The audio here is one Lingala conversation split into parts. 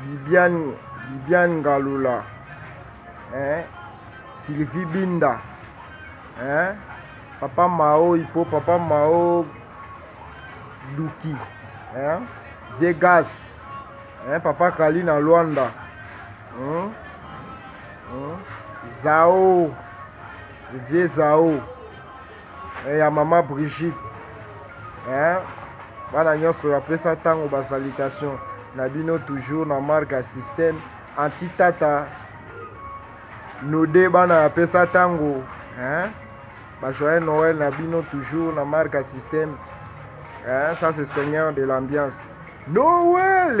Bibiane, Bibiane Ngalula, hein? Sylvie Binda, hein? Papa Mao, Ipo, Papa Mao, Duki, hein? Vegas, hein? Papa Kali na Luanda, hein? Hein? Zao, Vieux Zao. eh, ya mama Brigitte eh, bana nyonso ya pesa ntango ba salutation na bino toujours na marque ya système anti tata node bana ya pesa ntango eh, ba joyeux Noël na bino toujours na marque ya système eh, ça c'est seigneur de l'ambiance Noël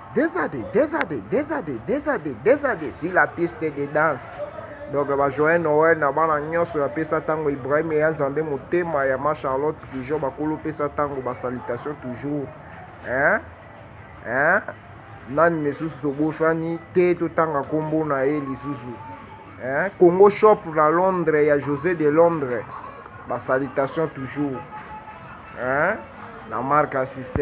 Des années, des années, des années, des années, des années sur la piste de danse. Donc ba joyeux Noël na bana nyonso ya pesa tango Ibrahim ya Nzambe motema ya ma Charlotte toujours bakolo pesa tango ba salutation toujours. Hein? Hein? Nani lisusu tobosani te totanga kombo na ye lisusu. Hein? Congo shop na Londres ya José de Londres. Ba salutation toujours. Hein? La marque assistée